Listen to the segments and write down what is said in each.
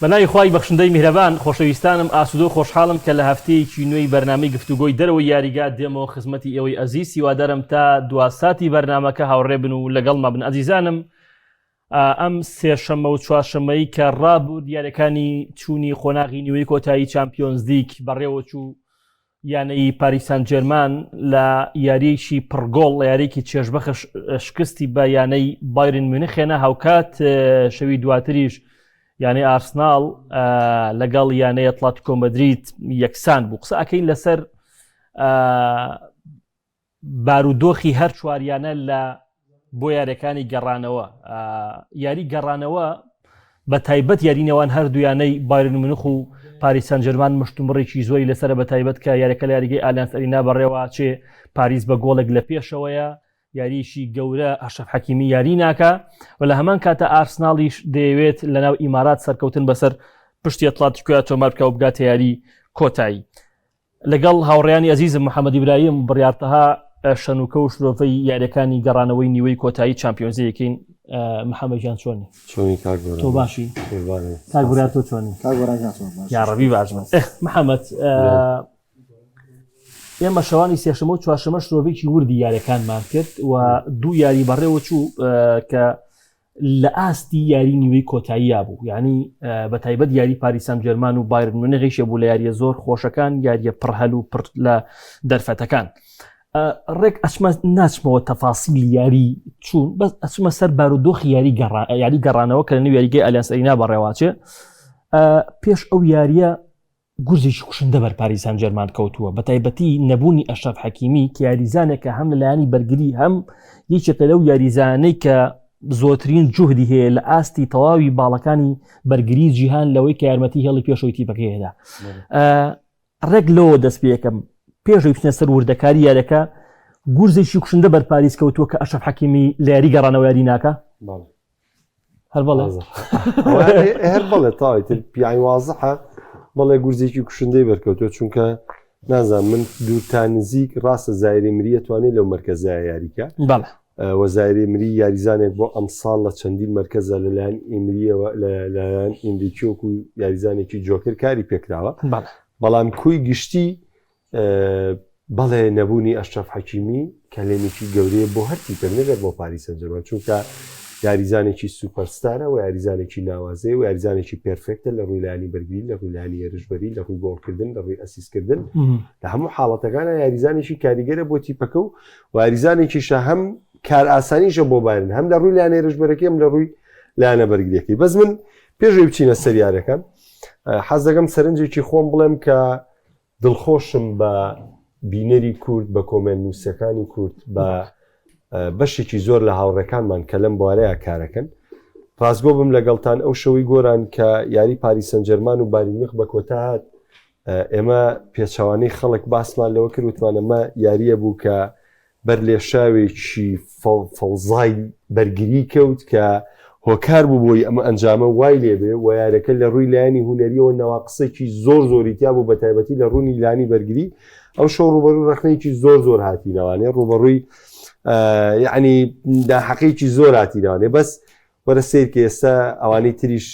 بەناوی خوای بەخشندەی میهرەبان خۆشەویستانم ئاسودۆ خۆشحاڵم کە لە هەفتەیەکی نوێی بەرنامەی گفتوگۆی دەرەوەی یاریگا دێمەوە خزمەتی ئێوەی ئەزیز سیوادارم تا دوا ساتی بەرنمەکە هاوڕێ بن و لەگەڵ مەبن ئەزیزانم ئەم سێشەمە و چوارشەمەی کە ڕابوو دیارەکانی چوونی قۆناغی نیوەی کۆتایی چمپیۆنزدیک بەڕێوەچوو یانەی پاریس سانجێرمان لە یاریەکی پڕگۆڵ لە یاریێکی چێژبەخش شکستی بە یانەی بایرن میونخێنە هاوکات شەوی دواتریش یانەی ئارسناڵ لەگەڵ یانەیە تڵات کۆمەدریت یەکسان بوو قسە ئەەکەین لەسەر بارودۆخی هەر چوار یانە لە بۆ یاریەکانی گەڕانەوە یاری گەڕانەوە بە تایبەت یاری نێوان هەردوویانەی بارن منخ و پاریسان جەرمان مشتومڕێکی زۆری لەسرە بە تایبەت کە یاریەکە لە یاریگەی ئالانس ئەرینا بەڕێوە چێ پاریس بە گۆڵێک لە پێشەوەیە یاریشی گەورە ئەشەف حەکیمی یاری ناکە و لە هەمان کاتە ئارسناڵیش دەیەوێت لەناو ئیمارات سەرکەوتن بەسەر پشتی ئەتلاتیکۆیا تۆمار بکە و بگاتە یاری کۆتایی لەگەڵ هاوڕێیانی ئەزیزم محەمەد ئیبراهیم، بڕیار تەها، شەنوکە و شرۆڤەی یاریەکانی گەڕانەوەی نیوەی کۆتایی چامپیۆنزی یەکەین محەمەد گیان چۆنی؟ چۆنی کاک گۆران؟ تۆ باشی؟ قوربانت. کاک برا تۆ چۆنی؟ کاک گۆران گیان چۆن باشی؟ یاڕەبی باش بن. ئه محەمەد ئێمە شەوانی سێشەمە و چوارشەمە شرۆڤەیەکی وردی یاریەکانمان کرد و دوو یاری بەڕێوە چوو کە لە ئاستی یاری نیوەی کۆتاییا بوو یانی بە تایبەت یاری پاریس سانجێرمان و بایرن میونغیشە بوو لە یارییە زۆر خۆشەکان یارییە پڕ هەل و پڕ لە دەرفەتەکان ڕێک ئەچمە ناچمەوە تەفاسیلی یاری چوون بەس ئەچمە سەر بارودۆخی یاری گەڕا یاری گەڕانەوە کە لە نوێ یاریگەی ئەلیانس ئەرینا بەڕێواچێ پێش ئەو یاریە گورزێکی کوشندە بەر پاریس سانجێرمان کەوتووە بە تایبەتی نەبوونی ئەشرەف حەکیمی کە یاریزانێکە هەم لە لایەنی بەرگری هەم یەکێکە لەو یاریزانەی کە زۆترین جوهدی هەیە لە ئاستی تەواوی باڵەکانی بەرگری جیهان لەوەی کە یارمەتی هێڵی پێشەوەی تیپەکەیدا ڕێک لەوە دەست پێەکەم پێشەوەی بچنە سەر وردەکاری یارەکە گورزێکی کوشندە بەر پاریس کەوتووە کە ئەشرەف حەکیمی لە یاری گەڕانەوە یاری ناکە هەربڵێ هەر بڵێ تاوی تر پیانی وازحە بەڵێ گورزێکی کوشندەی بەرکەوتوە چونکە نازان من دوورتان نزیک ڕاستە زایری مریە توانێت لەو مرکزە یاریکە بەڵێ وەزایری مری یاریزانێک بۆ ئەمساڵ لە چەندین مرکزە لەلایەن ئیمریەوە لەلایەن ئیندیکیۆک و یاریزانێکی جۆکر کاری پێکراوە بەڵام کوی گشتی بەڵێ نەبوونی ئەشرەف حەکیمی کەلێنێکی گەورەیە بۆ هەر تیپێک نەبێت بۆ پاریس سەنجەرمان چونکە یاریزانێکی سوپەرستارە و یاریزانێکی ناوازەیە و یاریزانێکی پێرفێکتە لە ڕووی لانی بەرگری لە ڕوولانی هێرشبەری لە ڕووی گۆڵکردن لە ڕووی ئەسیسکردن لە هەموو حاڵەتەکانە یاریزانێکی کاریگەرە بۆ تیپەکە و واریزانێکیشە هەم کار ئاسانیشە بۆ بارن هەم لە ڕووی لان هێرشبەرەکەم لە ڕووی لایەنە بەرگریەکەی بەس من پێشوی بچینە سەریارەکان حەز دەگەم سەرنجێکی خۆم بڵێم کە دڵخۆشم بە بینەری کورد، بە کۆمێنت نووسەکانی کورد، بە بەشێکی زۆر لە هاوڕێکانمان کە لەم بوارەیە کارەکەن. ڕاستگۆ بم لەگەڵتان ئەو شەوەی گۆران کە یاری پاریس سەنجەرمان و بایرنمیخ بە کۆتا هات، ئێمە پێچەوانەی خەڵک باسمان لەوە کرد وتمان ئەمە یارییە بوو کە بەر لێشاوێکی فەوزای بەرگری کەوت کە هۆکار بوو بۆی ئەم ئەنجامە وای لێ بێ و یارەکە لە رووی لایەنی هونەرییەوە نواقسێکی زۆر زۆری تیا بوو بە تایبەتی لە روونی لانی بەرگری ئەو شەو رووبەرووی رەخنەیەکی زۆر زۆر هاتینەوانێ رووبەڕووی یعنی ناحەقێکی زۆر هاتینەوانێ بەس وەرە سەیرکە ئێستا ئەوانەی تریش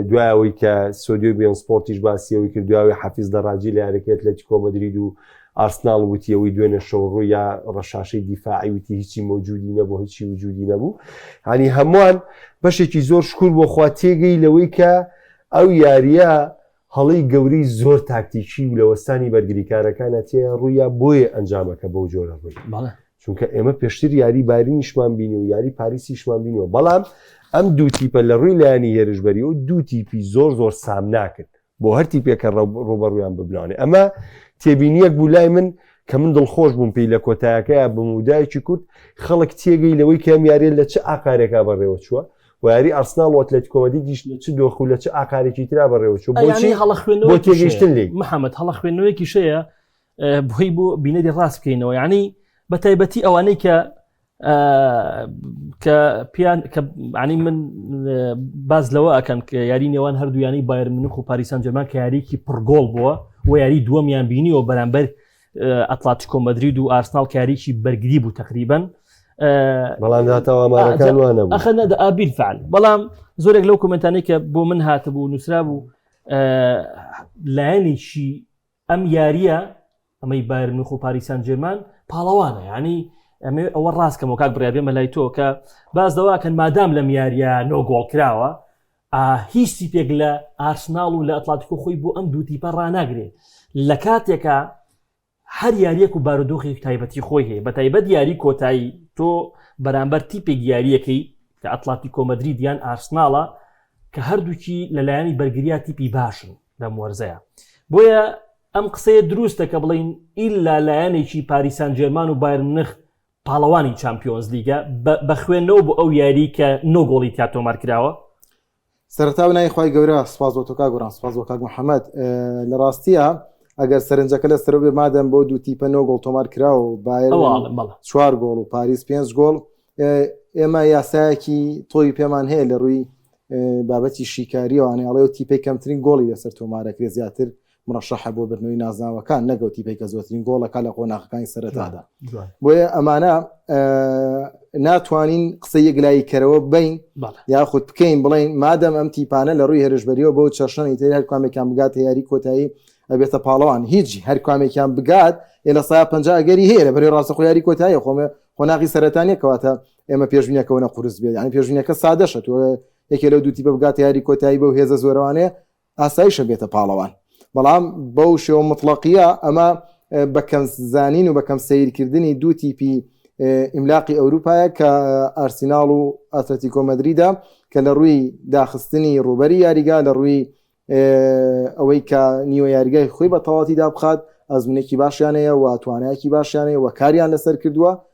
دوای ئەوەی کە سۆدیۆ بیۆن سپۆرتیش باسیەوەی کرد دواوی حەفیز دەڕاجی لە یارەکەی ئەتلەتیکۆ مەدرید و ئارسناڵ وتی ئەوەی دوێنێ شەوڕوو یا ڕەشاشەی دیفاعی وتی هیچی مەوجودی نەبوو هیچی وجودی نەبوو هەنی هەمووان بەشێکی زۆر شکور بۆ خوا تێگەی لەوەی کە ئەو یاریە هەڵەی گەورەی زۆر تاکتیکی و لە وەستانی بەرگریکارەکانە تێیان ڕوویا بۆیە ئەنجامەکە بەو جۆرە ڕووی چونکە ئێمە پێشتر یاری بارینیشمان بینی و یاری پاریسیشمان بینەوە بەڵام ئەم دوو تیپە لە ڕووی لایانی هێرشبەری و دوو تیپی زۆر زۆر سام ناکرد بۆ هەرتی پێکە ڕوبەڕویان ببناانێ ئەمە تێبینیەک بوو لای من کە من دڵخۆش بووم پێی لە کۆتایەکەیە بمودایکی کورد خەڵک تێگەی لەوەی کەم یاریێن لە چ ئاکارێکا بەڕێوە چووە و یاری ئارسناڵ و ئەتلەتیکۆ مەدریدیش لە چ دۆخ و لە چ ئاقارێکی ترا بەڕێوەچوو ئەیانی بۆچی هەڵە خوێنەوە بۆ تێگەیشتن لێی محەممەد هەڵە خوێندنەوەیەکی شەیە ئە، بۆی بۆ بینەری ڕاست بکەینەوە یعنی بە تایبەتی ئەوانەی کە ئە، کە پیان کە عنی من ئە، باز لەوە ئەکەن کە یاری نێوان هەردوویانی بایر منوخ و پاریسان جەرمان کە یاریکی پڕگۆڵ بووە و یاری دووەمیان بینیەوە بەرامبەر ئەتلاتیکۆ مەدرید و ئارسناڵ کاریکی بەرگری بوو تقریبن بەڵام ئابیل فعل بەڵام زۆرێک لەو کومنتانی کە بۆ من هاتبوو نووسرا بوو لایەنێکی ئەم یاریە ئەمەی بارمنخ و پاریسان جێمان پاڵەوانە ینی ئەمێ ئەوە ڕاستکەمەوە کاک بڕابێمە لای تۆ کە باز دەواکەن مادام لەم یاریە نۆ گۆڵ کراوە ئا هیچ تیپێک لە ئارسناڵ و لە ئەتڵاتیکۆ خۆی بۆ ئەم دوو تیپە ڕاناگرێ لە کاتێکا هەر یاریەک و بارودۆخێک تایبەتی خۆی هەیە بە تایبەت یاری کۆتایی تۆ بەرامبەر تیپێک یاریەکەی کە ئەتڵاتی کۆمەدرری دیان ئارسناڵە کە هەردووکی لەلایەنی بەرگریا تیپی باشن لەم وەرزەیە بۆیە ئەم قسەیە دروستە کە بڵین ئیلا لایەنێکی پاریسان جێرمان و بایرنخ پاڵەوانی چامپیۆنزلیگە بە خوێندنەوە بۆ ئەو یاریی کە نۆ گۆڵی تیا تۆمارکراوە. سەرەتا بنای خوای گەورە سوپاس بۆ تۆ کاک گۆران سوپاس بۆ کاک محەمەد لە ڕاستیە ئەگەر سەرنجەکە لە سەرۆ بێ مادەم بۆ دوو تیپە نۆ گۆڵ تۆمار کرا و باێ چوار گۆڵ و پاریس پێنج گۆڵ ئێمە یاسایەکی تۆی پێمان هەیە لە ڕووی بابەتی شیکاریەوەوانێ ئەڵێ و تیپی کەمترین گۆڵی لەسەر تۆمارەکرێ زیاتر مڕەشەحە بۆ بردنەوەی نازناوەکان نەگەوت تیپەی کە زۆرترین گۆڵەکە لە قۆناغەکانی سەرەتادا بۆیە ئەمانە ناتوانین قسە یەکلایی کەرەوە بین یاخود بکەین بڵین مادەم ئەم تیپانە لە ڕووی هێرشبەریەوە بۆ چەشنی تر هەر کامێکان بگات یاری کۆتایی ئەبێتە پاڵەوان هیچ هەر کامێکیان بگات ئێ لە سا پەنجگەری هەیە لە بەری ڕاستە خۆیاری کۆتایی خۆمە قۆناغی سەرەتانە کەواتە ئێمە پێشبینەکەونە قورس بێت یان پێشبینەکە سادەشە تۆ یەکێ لەو دووتی بە بگات یاری کۆتایی بەو هێزە زۆرەوانەیە ئاسایشە بێتە پاڵەوان. بەڵام بەو شێوە موتڵەقییە ئەمە بە کەم زانین و بە کەم سەیرکردنی دوو تیپی ئیملاقی ئەوروپایە کە ئارسیناڵ و ئاتلەتیکۆ مەدریدە کە لە ڕووی داخستنی ڕووبەری یاریگا لە ڕووی ئەوەی کە نیوە یاریگای خۆی بە تەواتی دابخات ئەزمونێکی باشیانەیە و توانایەکی باشیانەیە و کاریان لەسەر کردووە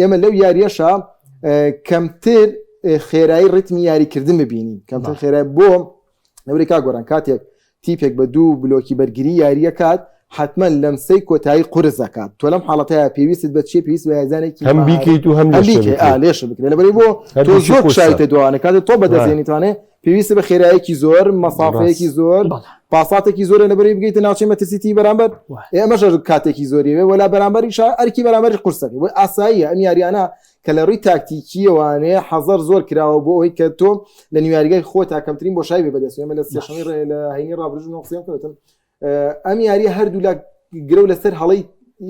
ئێمە لەو یاریەشە کەمتر خێرایی ڕتمی یاریکردن ببینین کەمتر خێرای بۆ نەوری کا گۆران کاتێک تیپێک بە دوو بلۆکی بەرگری یاریە کات حتمما لەم سی کۆتایی قرس دەکات تۆ لەم حاڵەتەیە پێویست بە چی پێویست وزانێکی هەم بیکەیت و هەم لێش بکرێت لەبەری بۆ تۆ شایتە دوانە کاتێک تۆ بەدەزێنیتوانێت پێویستە بە خێرایەکی زۆر مەسافەیەکی زۆر پاساتێکی زۆرە لەبەری بگەیتە ناوچەی مەترسیتی بەرامبەر ئێمەژە کاتێکی زۆری وێ وەلا بەرامبەری شا ئەرکی بەرامبەری قورسەکە بۆی ئاساییە ئەم یاریانە کە لە ڕووی تاکتیکیەوانەیە حەزەر زۆر کراوە بۆ ئەوی کە تۆ لە نیواریگای خۆ تاکەمترین بۆ شای بەدەستێمە لە سێشەی ڕێ لە هەینی ڕابرژ نۆقسیان کردن ئەم یاریە هەردوولا گرە لەسەر هەڵی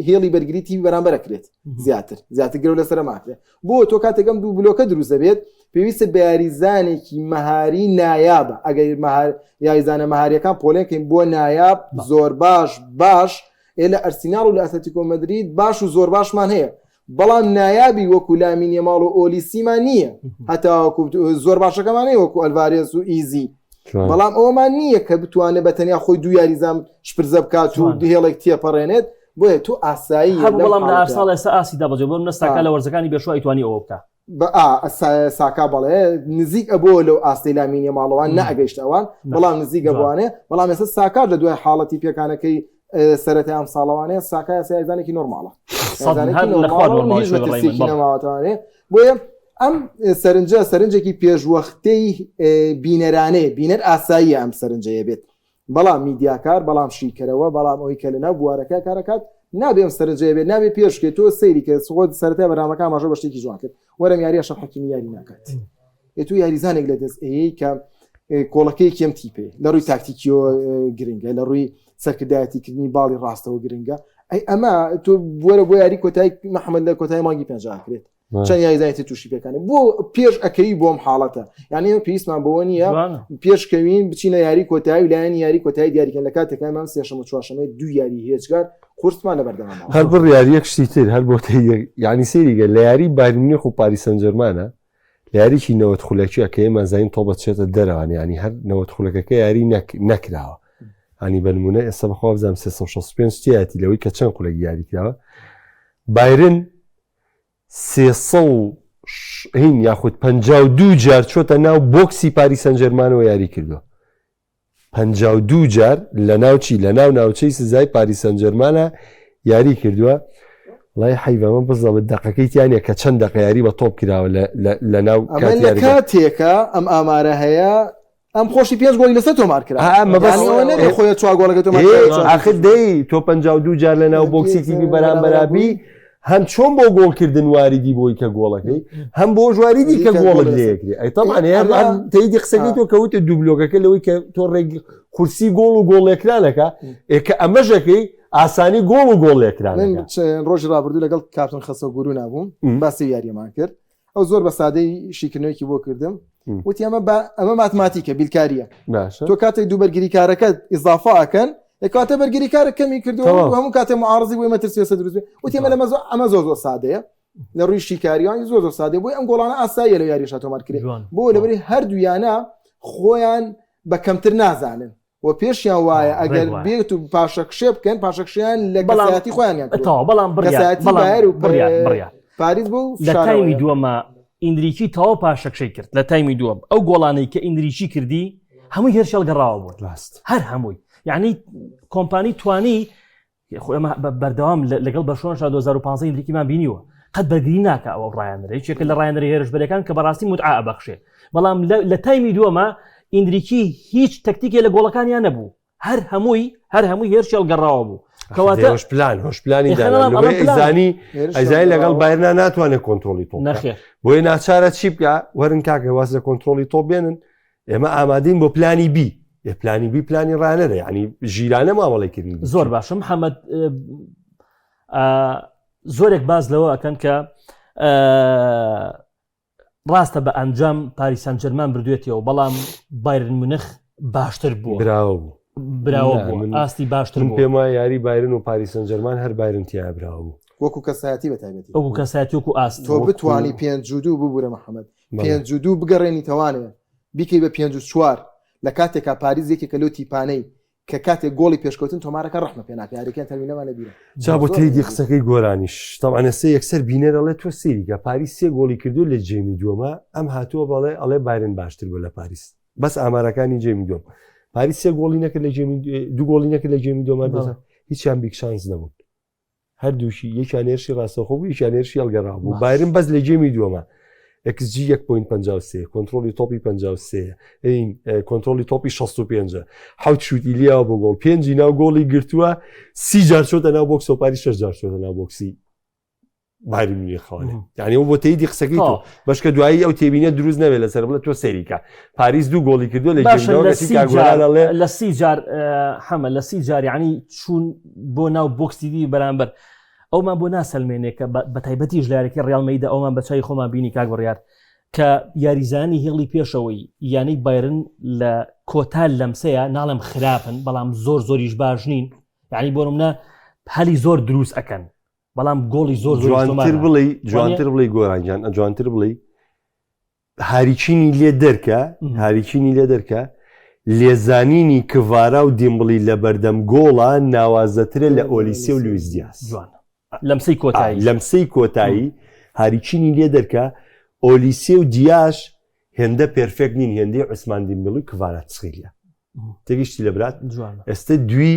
هێڵی بەرگری تیوی بەرامبەر کرێت زیاتر زیاتر گرە لەسەر ماکرێت بۆ تۆ کاتێکم دوو بلۆکە دروست دەبێت پێویستە بە یاریزانێکی مەهاری نایابە ئەگەر مەهار یاریزانە مەهاریەکان پۆلێنکەین بۆ نایاب زۆر باش باش ئێ لە ئەرسیناڵ و لە ئەسەتیکۆمەدرید باش و زۆر باشمان هەیە بەڵام نایابی وەکو لامین یەماڵ و ئۆلیسیمان نییە هەتاوەکو زۆر باشەکەمانەیە وەکو ئەلڤارێز و ئیزی بەڵام ئەومان نییە کە بتوانێت بە تەنیا خۆی دو یاریزان شپرزە بکات و هێڵێک تێپەڕێنێت بۆیە تو ئاسایی بەڵام لە ئارساڵ ئێستا ئاسی دابجێ بۆم نستاکە لە وەرزەکانی بێشوای توانی ئەوە بکە بە ئا ئەسایە ساکا بەڵێ نزیک ئەبووە لەو ئاستەی لامینە ماڵەوان نەگەشت ئەوان بەڵام نزیک ئەبوانێ بەڵام ێستا ساکار لە دوای حاڵەتی پێکانەکەی سەرەتا ئەم ساڵەوانەیە ساکایە سایزانێکی نۆرماڵە نەماوەتوانێ بۆیە ئەم سەرنجە سەرنجێکی پێشوەختەی بینەرانەیە بینەر ئاسایی ئەم سەرنجەیە بێت بەڵام میدیاکار، بەڵام شیکەرەوە، بەڵام ئەوەی کە لەناو بوارەکە کار ئەکات، نابێ ئەم سەرنجەیە بێت، نابێ پێش بکەیت، تۆ سەیری کە خۆت سەرەتای بەرنامەکە ئاماژە بە شتێکی جوان کرد، وەرە ئەم یاریە ئەشرەف حەکیمی یاری ناکات، ئێ تۆ یاریزانێک لە دەست ئەیەی کە کۆڵەکەی کێم تیپێ لە ڕووی تاکتیکیۆ گرنگە لە ڕووی سەرکردایەتی کردنی باڵی ڕاستەوە گرنگە ئەی ئەمە تۆ بوەرە بۆ یاری کۆتای محەممەد لە کۆتای مانگی پێنجاکرێت چەند یاریزانێتی تووشی پێکانی بۆ پێش ئەکەوی بۆم حاڵەتە یعنی ئێمە پێویستمان بەوە نییە پێشکەوین بچینە یاری کۆتایی لایەن یاری کۆتایی دیاریکەن لە کاتەکانمان سێشەمە چواشەمەی دو یاری هێچگار قورسمان لە بەردەمان هەر بڕ یاریەک شتی تر هەر بۆ یعنی سێریگە لە یاری بارمنیخ و پاریسەنجەرمانە لە یاریی نەوەت خولەکیە کە ئێمە زین تۆ بەچێتە دەرەوان ینی هەر نەوەت خولەکەکە یاری نەکراوە هەنی بەنمونە ئێستا بەخوابزانام 365 تیاتی لەوەی کە چەند خولەک یاریکراوە بایرن سێ سەد و شەست یاخود پەنجا و دوو جار چۆتە ناو بۆکسی پاریس سەنجەرمانەوە یاری کردووە. پەنجا و دوو جار لە ناوچی لە ناو ناوچەی سزای پاریس سەنجەرمانە یاری کردووە. لای حیبەمە بزەبت دەقەکەی تیانە کە چەند دەقە یاری بە تۆپ کراوە لە ناو کاتێکە ئەم ئامارە هەیە ئەم خۆشی پێنج گۆڵی لەسەر تۆمار کرا خۆی چوار گۆڵەکە تۆ ئاخر دەی تۆ پ دوو جار لە ناو بۆکسی تیبی بەرامبەرابی هەم چۆن بۆ گۆڵکردن واریدی بۆی کە گۆڵەکەی هەم بۆ ژواریدی کە گۆڵت لەکری ئەیتەمان تەیدی قسەکەی تۆ کەوتە دوبلۆگەکە لەوەی کە تۆ ڕێک قورسی گۆڵ و گۆڵێکرانەکە ئێکە ئەمەژەکەی ئاسانی گۆڵ و گۆڵێکران ڕۆژی ڕابردوو لەگەڵ کاتون خەسە گورو نابووم باسی یاریەمان کرد ئەو زۆر بە سادەی شیکردنەوەیکی بۆ کردم وتی ئەمە بە ئەمە ماتماتیکە بیلکاریە تۆ کاتێک دوو بەرگری کارەکەت ئیزافا ئەکەن کاتە بەرگری کارە کەمی کردەوە هەموو کاتێ معارزی بۆی مەترسێسە دروست وتی ئەمە لە مەزۆ ئەمە زۆر زۆر سادەیە لە ڕووی شیکاریانی زۆر زۆر سادە بۆی ئەم گۆڵانە ئاساییە لە یاریشە تۆمارکرێت بۆ لەبری هەردوویانە خۆیان بە کەمتر نازانن و پێشیان وایە ئەگەر بێت و پاشەکشێ بکەن پاشەکشیان لە گەڵاتی خۆیانیان تەواو بەڵام بڕیار و بڕیار پاریس بوو لە تایمی دووەمە ئیندریکی تەواو پاشەکشەی کرد لە تایمی دووەم ئەو گۆڵانەی کە ئیندریکی کردی هەمووی هێرشەڵ گەڕاوە بۆت لاست هەر هەمووی یعنی کۆمپانی توانی خۆ ئێمە بەردەوام لەگەڵ بەرشۆن شا 2015 ئیندریکیمان بینیوە قەت بەرگری ناکە ئەوە ڕایانەرە یەکێکە لە ڕایانەر هێرشبەرەکان کە بەڕاستی متعا ئەبەخشێ بەڵام لە تایمی دووەمە ئیندریکی هیچ تەکتیکێ لە گۆڵەکانیان نەبوو هەر هەمووی هەر هەمووی هێرشی هەڵگەڕاوە بوو کەواتە هۆش پلان هۆش پلانی دانانی ئەزای لەگەڵ بایرنا ناتوانێت کۆنتترۆلی تۆ نەخێ بۆیە ناچارە چی بکە وەرن کاکە واز لە کۆنتترۆلی تۆ بێنن ئێمە ئامادەین بۆ پلانی بی ئێ پلانی بی پلانی ڕانەرە ینی ژیرانە مامەڵی کردنی زۆر باشە محەممەد زۆرێک باز لەوە ئەکەن کە ڕاستە بە ئەنجام پاریسان جەرمان بردوێتەوە بەڵام بایرن منخ باشتر بوو براوە بوو براوە بوو ئاستی باشتر پێم وای یاری بایرن و پاریسان جەرمان هەر بایرن تیا براوە بوو وەکو کەسایەتی بەتابێتی وەکو کەسایەتی وەکو ئاست تۆ بتانی پێنج جودو ببوورە محەممەد پێنج و دوو بگەڕێنیتەوانێ بیکەی بە پێنج و چوار لە کاتێکا پاریس یەکێکە لەو تیپانەی کە کاتێک گۆڵی پێشکەوتن تۆمارەکە ڕەحمە پێ ناکە یاریەکەیان تەرمینەمان لەبیرە جا بۆ تێیدی قسەکەی گۆرانیش تەوان ئێستا یەکسەر بینەر ئەڵێ تۆ سێریکە پاریس سێ گۆڵی کردو لە جێمی دووەمە ئەم هاتووە بەڵێ ئەڵێ بایرن باشتر بوو لە پاریس بەس ئامارەکانی جێمی دووەم پاریس سێ گۆڵی نەکرد لە جێمی دوو گۆڵی نەکرد لە جێمی دووەمە دەسە هیچیان بیکشانس نەبوون هەردووکی یەکیان هێرشی ڕاستەخۆ بوو یەکیان هێرشی هەڵگەڕا بوو بایرن بەس لە گێمی دووەمە XG 1.53 کۆنتترۆلی تۆپی 53 ئەین کۆنتترۆلی تۆپی 65 حوت شووتی لیاوە بۆ گۆڵ پێنجی ناو گۆڵی گرتووە سی جار چۆتە ناو بۆکسۆپاری شش جار چۆتە ناو بۆکسی باری منی خاڵێ یعنی و بۆ تیدی قسەکەی تۆ بەشکە دوایی ئەو تێبینە دروست نەوێت لەسەر بڵێت تۆ سەریکە پاریس دوو گۆڵی کردو لە لە سی جار حەمە لە سی جاریانی چوون بۆ ناو بۆکسیدی بەرامبەر ئەومان بۆ ناسەلمێنێک کە بە تایبەتیش لارێکی ڕالمەیدا ئەومان بەچوی خۆمان بینی کاک بڕیار کە یاریزانی هێڵی پێشەوەی یانەی بایرن لە کۆتا لەمسەیە ناڵم خراپن بەڵام زۆر زۆریش باش نین یعنی بۆ منە هەلی زۆر دروست ئەەکەن بەڵام گۆڵی زۆر جوانتر بڵی جوانتر بڵی گۆرانگیان ئەجوانتر بڵی هاریچینی لێ دەرکە هاریچینی لێ دەرکە لێزانینی کڤارا و دیمبڵی لە بەردەم گۆڵە ناوازەترە لە ئۆلیسی و لویس دیاز لەمسی کۆتایی لەمسی کۆتایی هاریچینی لێ دەرکە ئۆلیسی و دیاش هێندە پرفێک نین هێندەی عوسمان دیمبڵی کڤارا تسخیلە تێگەشتی لە برات ئێستا دوی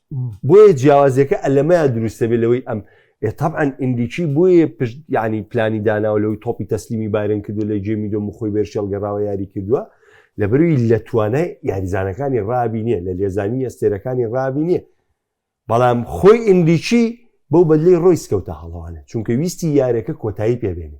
بۆیە جیاوازیەکە ئەلەمەیان دروستە بێ لەوەی ئەم تەعاان ئیندیکی بۆیە پشت یعنی پلانی داناوە لەوەی تۆپی تەسلیمی بارن کردو لە جێ میدۆ مخۆی بێرشێڵ گەڕاوە یاری کردووە لە بەروی لە توانای یاریزانەکانی ڕابی نییە لە لێزانی ئەستێرەکانی ڕابی نییە بەڵام خۆی ئیندیکی بەو بەدلی ڕۆیس کەوتە هەڵەوانە چونکە ویستی یارەکە کۆتایی پێبێنێ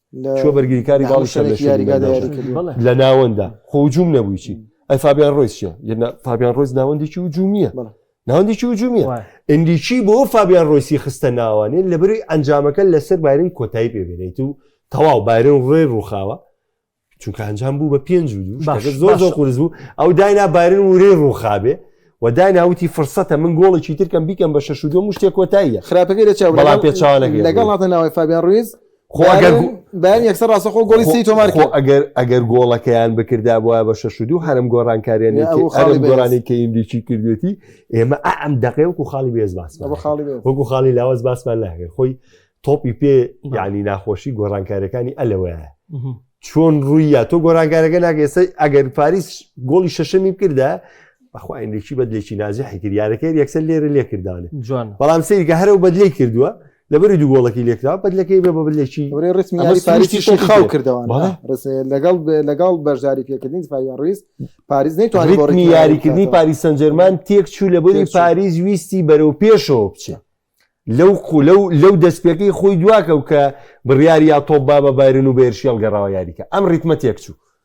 لە چووە بەرگریکاری باڵی شەر لە شوێنی مەیدان لە ناوەندا خۆ هجووم نەبووی چی ئەی فابیان ڕۆیس چیە یەنا فابیان ڕۆیس ناوەندێکی هجوومیە ناوەندێکی هجوومیە ئەندیکی بۆ فابیان ڕۆیسی خستە ناوانێ لە بەری ئەنجامەکە لەسەر بارین کۆتایی پێبێنیت و تەواو بارن ڕێ ڕووخاوە چونکە ئەنجام بوو بە پێنج و دوو زۆر زۆر قورس بوو ئەو داینا بارن ورێ ڕووخابێ و دایناوتی فرسەتە من گۆڵێکی ترکەم بیکەم بە شەش و دو مشتێک کۆتاییە خراپەکە لە چاو بەڵام پێچوانەکە لەگەڵ هاتە ناوی فابیان ڕویز بەیان یەکسەر ڕاستەخۆ گۆڵی سی تۆمار ئەگەر ئەگەر گۆڵەکەیان بکردا بۆە بە شەش و دوو هەرم گۆڕانکاریانی خاڵی گۆرانی کە ئیندیکی کردێتی ئێمە ئەم دەقێ وەکو خاڵی بێز باس وەکو خاڵی لاوەز باسمان ناکرد خۆی تۆپی پێ یعنی ناخۆشی گۆڕانکارەکانی ئەلەوەیە چۆن ڕووی یا تۆ گۆرانکارەکە ناگەێسە ئەگەر پاریس گۆڵی شەشەمی بکردا بەخواینێکی بەدلێکی نازی حیکردارەکە یەکسەر لێرە لێکردانێت جوان بەڵام سری کە هەرو بەدلی کردووە لەبەری دوو گۆڵەکی لێکرا بەدلەکەی بە بەبلێکی ورێ ڕسمی ئەمە یاری سپاریسی پاریسی شێتی خاو کرد. کردەوە بەڵێ. ڕسێ لەگەڵ لەگەڵ بەشداری پێکردنی سپاویان ڕیز پاریس نەیتوانی بۆ ڕیتمی ڕیتمی یاری یاریکردنی بکاتەوە. پاریس سەنجەرمان تێک چوو لە بەری تێک چوو. پاریس ویستی بەرەو پێشەوە بچێ لەو قو- لەو لەو دەستپێکەی خۆی دواکەو کە بڕیاری یا تۆپ با بە بایرن و بەیرشێڵ گەڕاوە یاریکە ئەم ڕیتمە تێک چوو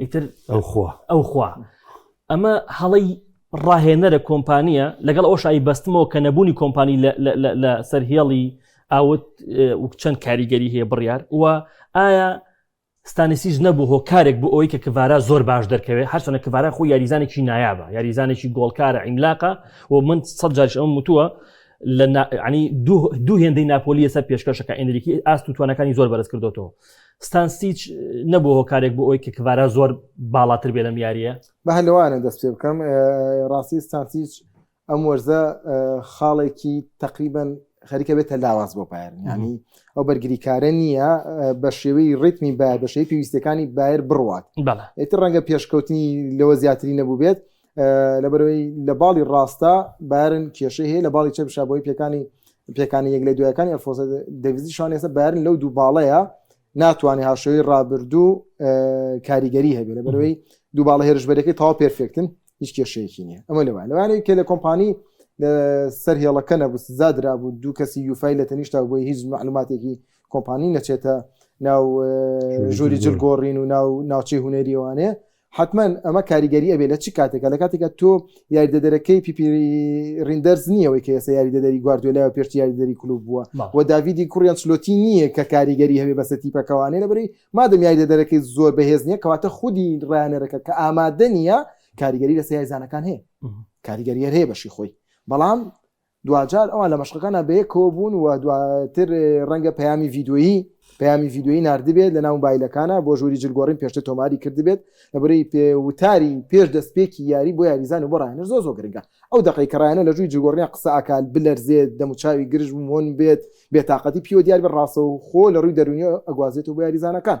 ئیتر ئەو خوا ئەو خوا ئەمە هەڵی ڕاهێنەرە کۆمپانیە لەگەڵ ئەو شایی بەستمەوە کە نەبوونی کۆمپانی لە سەر هێڵی ئاوت چەند کاریگەری هەیە بڕیار وە ئایا ستانسیش نەبوو هۆکارێک بۆ ئەوی کە کڤارا زۆر باش دەرکەوێت هەرچەنە کڤارا خۆ یاریزانێکی نایابە یاریزانێکی گۆڵکارە ئیملاقە و من سە جارش ئەم وتووە لە دوو هێندەی ناپۆلیە سەر پێشکەشەکە ئەندریکی ئاست و توانەکانی زۆر بەرز کردوەوە ستانسیچ نەبوو هۆکارێک بۆ ئەوی کە کڤارا زۆر باڵاتر بێ لەم یاریە بە هەلوانە دەست پێ بکەم ڕاستی ستانسیچ ئەم وەرزە خاڵێکی تقریبن خەریکە بێتە لاواز بۆ پایرن ینی ئەو بەرگریکارە نییە بە شێوەی ڕیتمی باە بەشەی پێویستەکانی بایر بڕوات ئیتر ڕەنگە پێشکەوتنی لەوە زیاتری نەبوو بێت لەبەرەوەی لە باڵی ڕاستە بارن کێشەی هەیە لە باڵی چەپ شابۆی پێکانی پێکانی یەک لە دوایەکانی ئەلفۆسە دەویزی شان ێستا بارن لەو دوو باڵەیە ناتوانێت هاشەوەی ڕابردوو کاریگەری هەبێت لە بەرەوەی دوو باڵە هێرشبەرەکەی تاوا پێرفێکتن هیچ کێشەیەکی نیە ئەمە لەوان لەوانەیە کە لە کۆمپانی سەر هێڵەکە نەبوو زادرا بوو دوو کەسی یوفای لە تەنیشتا بۆی هیچ معلوماتێکی کۆمپانی نەچێتە ناو ژووری جلگۆڕین و ناو ناوچەی هوەریوانێ حەتمەن ئەمە کاریگەری ئەبێ لە چ کاتێکە لە کاتێکە تۆ یاریدەدەرەکەی پیپی ریندەرز نییەوەی کە ئێستا یاریدەدەری گواردیۆلا و پێشتی یاریدەری کلوب بووە و داویدی کوڕیان چلۆتی نییە کە کاریگەری هەبێ بەسە تیپەکەوانێ لەبری مادەم یاریدەدەرەکەی زۆر بەهێز نییە کەواتە خودی ڕایانەرەکە کە ئامادە نییە کاریگەری لە سیایزانەکان هەیە کاریگەریەر هەیە بەشی خۆی بەڵام دواجار ئەوان لە مەشقەکانە بەیەکەوە بوون و دواتر ڕەنگە پەیامی ڤیددیویی پەیامی ڤیددیویی نردبێت لە ناو بایلەکانە بۆ ژووری جلگۆڕین پێشتر تۆماری کردبێت لەبری پێ وتاری پێش دەستپێکی یاری بۆ یاریزان و بۆ ڕایەنەر زۆ زۆ گرنگە ئەو دقی کە ڕایەنە لە ژووی جگۆڕنیان قسە ئاکال بلەرزێت دەموچاوی گرژ مۆن بێت بێتاقەتی پیوە دیار بە ڕاستەو خۆ لە ڕووی دەرونیەوە ئەگوازێت و بۆ یاریزانەکان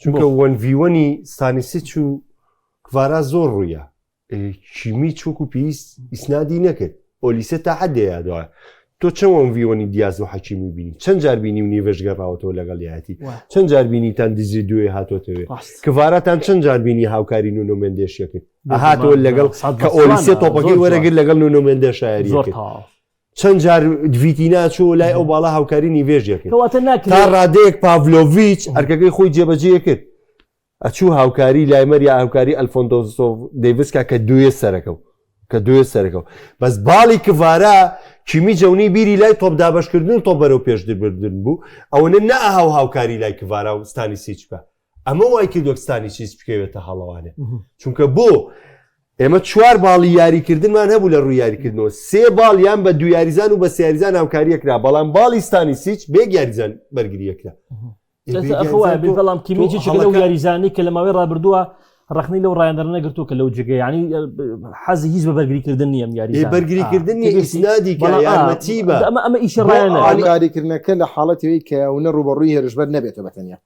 چونکە وەن ڤی وەنی ستانیسیچ و کڤارا زۆر ڕوویە کیمی چوک و پێویست ئیسنادی نەکرد ئۆلیسە تا حدەیە دوایە تۆ چەند وەن ڤی وەنی دیاز و حەکیمی بینی چەند جار بینی و نیڤش گەڕاوەتەوە لەگەڵ یاتی چەند جار بینیتان دزی دوێ هاتۆتەوێت کڤاراتان چەند جار بینی هاوکاری نونۆمێندێشیەکرد هاتەوە لەگەڵ کە ئۆلیسە تۆپەکەی وەرەگر لەگەڵ نونۆمێندە شاعری چەند جار ڤیتینا چۆ لای ئەو باڵا هاوکاری نیڤێژێک کەواتە ناکرێت تا ڕادەیەک پاڤلۆڤیچ ئەرکەکەی خۆی جێبەجێ کرد ئەچوو هاوکاری لایمەر یا هاوکاری ئەلفۆندۆسۆ دەیڤسکا کە دوێ سەرەکە و کە دوێ سەرەکە و بەس باڵی کڤارا کیمی جەونی بیری لای تۆپ دابەشکردن و تۆپ بەرەو پێش دبردن بوو ئەوەنە نەها و هاوکاری لای کڤارا و ستانی سیچکە ئەمە وای کردوە ستانیچیس بکەوێتە هەڵەوانێ چونکە بۆ ئێمە چوار باڵی یاریکردنمان هەبوو لە ڕووی یاریکردنەوە سێ باڵ یان بە دو یاریزان و بە سیاریزان هاوکاریەکرا بەڵام باڵی ستانیسیچ بێک یاریزان بەرگریەکرا بەڵام کیمیجی یاریزانی کە لە ماوەی ڕابردووە ڕخنی لەو ڕایەندەر نەگرتو کە لەو جگە ینی حەزی هیچ بە بەرگریکردن نیەم یاری بەرگریکردنی ئیسنادی یارمەتی بە ئەمە ئەمە ئیشڕیانکاریکردنەکە لە حاڵەتەوەی کە ئەوە ڕوبەڕووی هێرشبەر نەبێتە بەتەنیا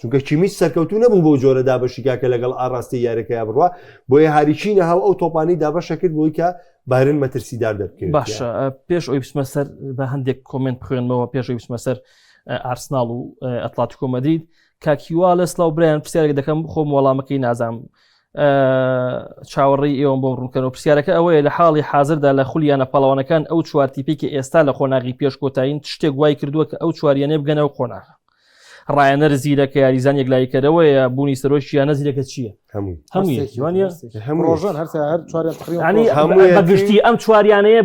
چونکە کیمیچ سەرکەوتوو نەبوو بەو جۆرە دابەشیکا کە لەگەڵ ئاڕاستەی یاریەکەیا بڕوا بۆیە هاریکی نەهاو ئەو تۆپانی دابەشە کرد بۆی کە بارن مەترسیدار دەبکرێت باشە پێش ئەوی بسمە سەر بە هەندێک کۆمنت بخوێنمەوە پێشەوی بسمە سەر ئارسناڵ و ئەتلات کۆمەدید کاکیوا لە سلااو برایان پرسیارێک دەکەم خۆم وەڵامەکەی نازام چاوەڕی ئێوەم بۆم ڕوونکەەوە پرسیارەکە ئەوەیە لە حاڵی حاضردا لە خولیانە پاڵەوانەکان ئەو چوارتیپێکی ئێستا لە قۆناغی پێش کۆتایین شتێک وای کردووە کە ئەو چواریانێ بگەنەوە قۆناغ ڕایەنەر زیرە کە یاریزان یەکلایی کەرەوەیە بوونی سەرۆکی یانە زیرەکە چییە هەموویگشتی ئەم چواریانەیە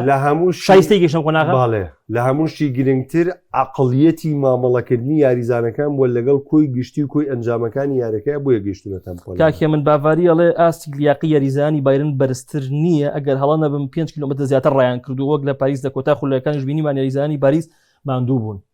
لە هەموو شایستی گەشتم قۆناغاڵێ لە هەمووشی گرنگتر عقلیەتی مامەڵەکردنی یاریزانەکان بۆ لەگەڵ کۆی گشتی و کۆی ئەنجامەکانی یارەکە بۆیە گەشتونە تەمپۆلاکێ من باڤاری ئەڵێ ئاستی لیاقی یاریزانی بایرن بەرزتر نییە ئەگەر هەڵە نەبم 5 کیلومتر زیاتر ڕایان کردو وەک لە پاریس لە کۆتا خولەکانش بینیمان یاریزانی باریس ماندوو بوون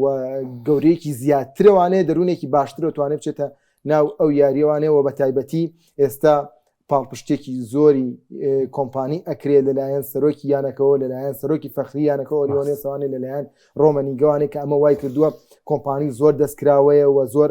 و گەورەیەکی زیاترەوانەیە دەروونێکی باشترە توانێت بچێتە ناو ئەو یاریوانەوە بە تایبەتی ئێستا پاڵپشتێکی زۆری کۆمپانی ئەکرێت لەلایەن سەرۆکی یانەکەەوە لەلایەن سەرۆکی فەخری یانەکە ئۆلیۆنێسانێ لەلایەن ڕۆمەنی گەوانێک کە ئەمە وای کردووە کۆمپانی زۆر دەستکراوەیە و زۆر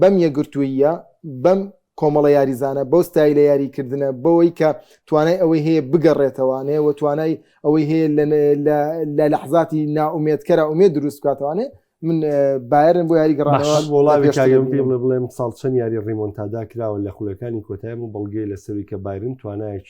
بەم یەکگرتووییە، بەم کۆمەڵە یاریزانە، بەو ستایلە یارییکردنە، بەوەی کە توانای ئەوەی هەیە بگەڕێتەوانێ و توانای ئەوەی هەیە لە لەحزاتی نائومێدکەرا ئومێد دروست بکاتوانێ، من بایرن بۆ یاری گەڕانەوە وڵاوی کاگەم پێی بڵێ بڵێ ئەمساڵ چەند یاری ڕیمۆنتادا کراوە لە خولەکانی کۆتای ئەمە بەڵگەیە لەسەروی کە بایرن توانایەکی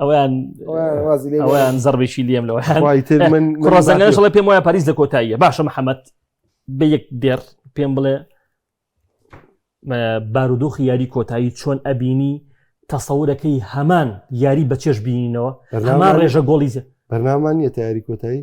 ئەویان ئەویان زەربێکی لێم لەوە ڕۆزەنگەشڵێ پێم وایە پاریس لە کۆتاییە باشە محەممەد بە یەک دێر پێم بڵێ بارودۆخی یاری کۆتایی چۆن ئەبینی تەسەورەکەی هەمان یاری بەچێش بینینەوە هەمان ڕێژە گۆڵیزە بەرنامان نیە تاری کۆتایی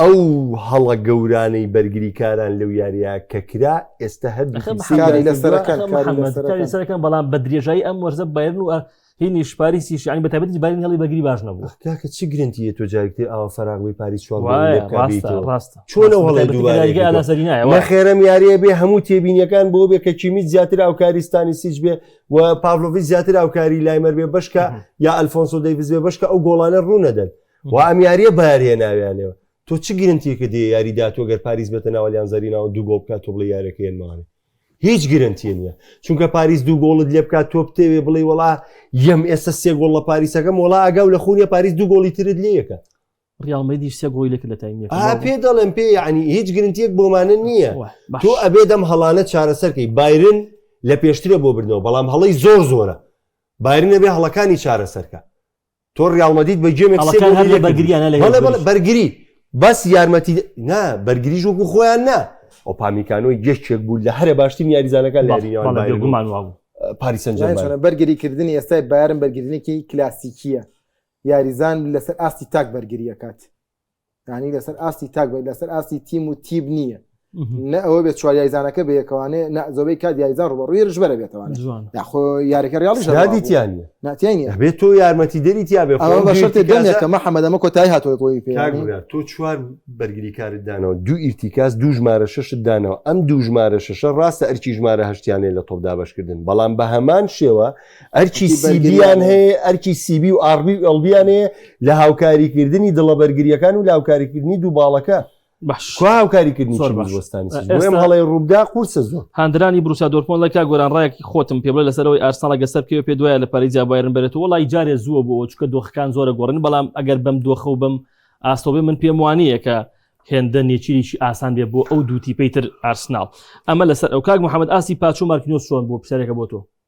ئەو هەڵە گەورانەی بەرگریکاران لەو یاریە کە کرا ئێستا هەر سەرەکەم بەڵام بە درێژایی ئەم وەرزە بەرن و هینی شپاری سیشانی بە تابەتی بارین هەڵی بەگری باش نەبوو کاکە چی گرنتی تۆ جارکتی ئاوا فراغبی پاری چوارڕاستە چۆن هەڵی خێرم یاریە بێ هەموو تێبینیەکان بۆ بێ کە کیمیت زیاتر ئاوکاریستانی سیچ بێ و پاڤلۆڤی زیاتر ئاوکاری لایمەر بێ بەشکە یا ئەلفۆنسۆ دەیبزێ بەشکە ئەو گۆڵانە ڕوونەدەن وا ئەم یاریە بەیاریە ناویانەوە تۆ چ گرنتیکە دێ یاری داتوە گەر پاریس بێتە ناوەلیان زەرینەوە دوو گۆڵ بکات تۆ بڵێ یارەکە هێنمانێ هیچ گرنتی نییە چونکە پاریس دوو گۆڵت لێ بکات تۆ بتێوێ بڵێ وڵا یەم ئێستا سێ گۆڵ لە پاریسەکەم وڵا ئەگەو لە خونیە پاریس دوو گۆڵی ترت لەکە ڕیاڵمەدی سێ گۆی لەکە لە تایم پێ دەڵێن پێ ینی هیچ گرنتیەک بۆمانە نییە تۆ ئەبێ دەم هەڵانە چارەسەرکەی بایرن لە پێشترە بۆ بردنەوە بەڵام هەڵی زۆر زۆرە بارینە بێ هەڵەکانی چارەسەرکە تۆ ڕیاڵ مەدید بە گێمێک سێ گۆڵی لێ کردی بەڵێ بەڵێ بەرگری بەس یارمەتی نا بەرگریش وەکو خۆیان نا ئۆپامیکانۆی گەشتێک بوو لە هەرە باشترین یاریزانەکان لە یاریگومان وابوو پاریسەن بەرگری کردنی ئێستای بارم بەرگرنێکی کلاسیکیە یاریزان لەسەر ئاستی تاک بەرگریەکات یعنی لەسەر ئاستی تاک بێت لەسەر ئاستی تیم و تیب نییە نە ئەوە بێت چوار یایزانەکە بەیەکەوانێ نە زۆبەی کات یایزان ڕوە ڕوی ڕژبەرە بێتەوان یاخۆ یارەکە ڕاڵی شادیتیان ناتیانی بێت تۆ یارمەتی دەری تیا بێ بەشتێکە محەممەدەمە کۆتای هاتۆی تۆی پێ تۆ چوار بەرگری کارت دانەوە دوو ئیرتیکاس دوو ژمارە شەشت دانەوە ئەم دوو ژمارە شەشە ڕاستە ئەرکی ژمارە هەشتیانەیە لە تۆپدا بەشکردن بەڵام بە هەمان شێوە ئەرکی سیبیان هەیە ئەرکی سیبی و ئاڕبی و ئەڵبیان هەیە لە هاوکاریکردنی دڵە بەرگریەکان و لاوکاریکردنی دوو باڵەکە هاوکاریکردنی زۆربەستانیم هەڵی ڕوودا قورسە زۆر هاندرانی بروسا دۆرپۆن لە کا گۆران ڕایەکی خۆتم پێ بڵێ لەسەرەوەی ئارساڵە گەسەر پێ پێ دوایە لە پاریزیا بایرن بێت و لای جارێ زووە بۆ چکە دۆخەکان زۆرە گۆڕن بەڵام ئەگەر بەم دۆخە و بم ئاستۆبێ من پێم وانەیە کە هێندە نێچیریی ئاسان بێ بۆ ئەو دووتی پێیتر ئارسناڵ ئەمە لەسەر ئەو کاک محەممەد ئاسی پاچوو مارکنۆس چۆن بۆ پرسیارێکە بۆ تۆ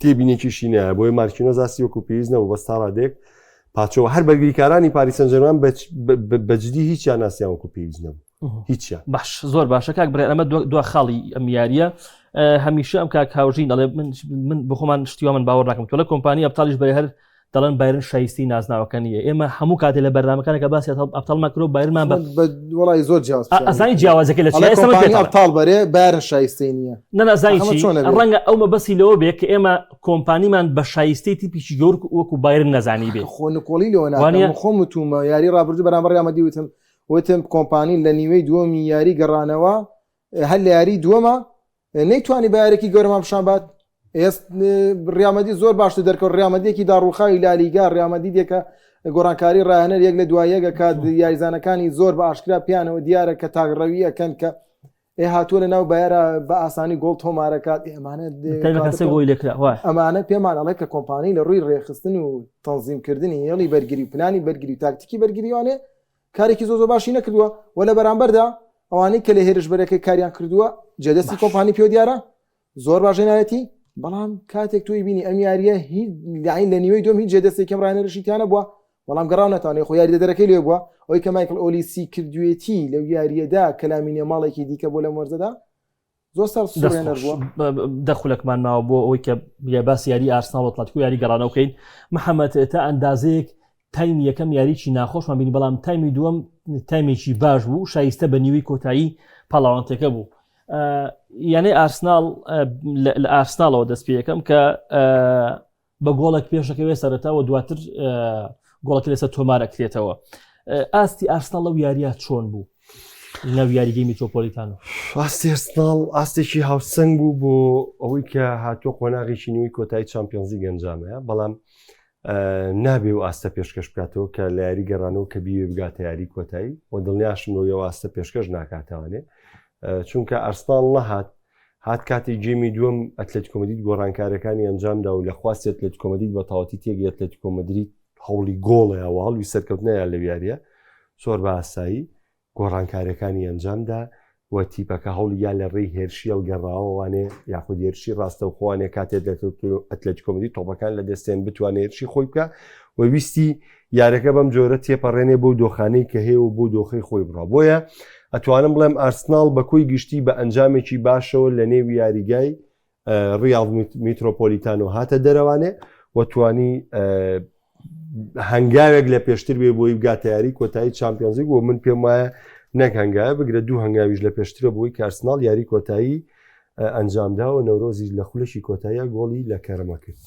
تێبینێکیشی نایە بۆی مارکینۆز ئاستی وەکو پێویست نەبوو بەس تا ڕادێک پاچەوە هەر بەرگریکارانی پاریسەن جەرمان بەجددی هیچیان ناسیان وەکو پێویست نەبوو هیچیان باش زۆر باشە کاک برێ ئەمە دو خاڵی ئەم یاریە هەمیشە ئەم کاک هاوژین دەڵێ من بخۆمان شتیوە من باوەڕ ناکەم تۆ لە کۆمپانی ئەبتالیش بە هەر دەڵێن بایرن شایستی نازناوەکە نیە ئێمە هەموو کاتێ لە بەرنامەکانە کە باسی ئەبتال مەکرۆ بایرمان وڵی زۆر جیاززانی جیاوازەکە لە ئەبتال بەرێ بارن شایستی نیە نەنازانی ڕەنگە ئەو مەبەسی لەوە بێت کە ئێمە کۆمپانیمان بە شایستی تیپیی گەور وەکو بایرن نەزانی بێ خۆ نکۆڵی لەوەوانە خۆم وتومە یاری ڕابردو بەرامبەر یامەدی وتم وتم کۆمپانی لە نیوەی دووەمی یاری گەڕانەوە هەر لە یاری دووەمە نەیتوانی بە یارێکی گەورەمان پیشان بات ڕامەدی زۆر باشتر دەرکەوت ڕامەدیەکی داڕوخاوی لالیگا ڕامەدی دێکە گۆڕانکاری ڕاهێنەر یەک لە دوایەگە کات یاریزانەکانی زۆر بە ئاشکرا پیانەوە دیارە کە تاگڕەوی ئەەکەن کە ئێ هاتووە لە ناو بایرە بە ئاسانی گۆڵ تۆمارەکات ئەمانە ئەمانە پێمان ئەڵێ کە کۆمپانی لە ڕووی ڕێخستن و تەنزیمکردنی هێڵی بەرگری پلانی بەرگری تاکتیکی بەرگریوانێ کارێکی زۆر زۆر باشی نەکردووە و لە بەرامبەردا ئەوانەی کە لە هێرش بەرەکەی کاریان کردووە جێ دەستی کۆمپانی پێوە دیارە زۆر باش هێنایەتی بەڵام کاتێک توی بینی ئەم یاریە هیچ داین لە نیوەی دوم هیچ جێ دەستی کەم ڕانەرشیتیانە بووە بەڵام گەڕاو ناتوانێ خۆ یاری دەرەکەی لێ بووە ئەوی کە مایکل ئۆلیسی کردوێتی لەو یاریەدا کەلامینە ماڵێکی دیکە بۆ لەم وەرزەدا زۆر سەر سورێنەر بووە دەخولەکمان ماوە بۆ ئەوەی کە بیا باس یاری ئارسناڵ و تاتکو یاری گەڕانەوە بکەین محەممەد تا ئەندازەیەک تایم یەکەم یاریی ناخۆشمان بینی بەڵام تایمی دووەم تایمێکی باش بوو شایستە بە نیوەی کۆتایی پاڵاوانتەکە بوو یانەی ئارسناڵ لە ئارسناڵەوە دەست پێ یەکەم کە بە گۆڵێک پێشەکەوێ سەرەتا و دواتر گۆڵەکە لەسەر تۆمارەکرێتەوە ئاستی ئارسناڵ لەو یاریە چۆن بوو لەو یاریگەی میتۆپۆلیتان و ئاستی ئەرسناڵ ئاستێکی هاوسنگ بوو بۆ ئەوەی کە هاتووە قۆناغێکی نوێی کۆتایی چمپیۆنزی گەنجامەیە بەڵام نابێ و ئاستە پێشکەش بکاتەوە کە لە یاری گەڕانەوە کە بیێ بگاتە یاری کۆتایی و دڵنیاشم بۆ یەوە ئاستە پێشکەش ناکاتەوانێ چونکە ئەرسناڵ نەهات هات کاتی گێمی دووەم ئەتلەتیکۆ مەدرید گۆڕانکاریەکانی ئەنجامدا و لە خواستی ئەتلەتیکۆ مەدرید بە تەواوەتی تێگەی ئەتلەتیکۆ مەدرید هەوڵی گۆڵیە و هەڵوی سەرکەوتنیان لەو یاریە زۆر بە ئاسایی گۆڕانکاریەکانی ئەنجامدا و تیپەکە هەوڵی یا لە ڕێی هێرشی هەڵگەڕاوەوانێ یاخود هێرشی ڕاستەوخۆوانێ کاتێت لە ئەتلەتیکۆ مەدرید تۆپەکان لە دەستێن بتوانێت هێرشی خۆی بکە و ویستی یاریەکە بەم جۆرە تێپەڕێنێ بۆ دۆخانەی کە هەیە و بۆ دۆخی خۆی بڕە بۆیە ئەتوانم بڵێم ئارسناڵ بە کۆی گشتی بە ئەنجامێکی باشەوە لە نێو یاریگای ڕیاڵ میترۆپۆلیتان و هاتە دەرەوانێ وەتوانی هەنگاوێک لە پێشتر بێ بۆی بگاتە یاری کۆتایی چمپیۆنزیک و من پێم وایە نەک هەنگاوە بگرە دوو هەنگاویش لە پێشترە بۆی کارسناڵ یاری کۆتایی ئەنجامداوە نەورۆزی لە خولەکی کۆتاییە گۆڵی لە کەرمە کرد.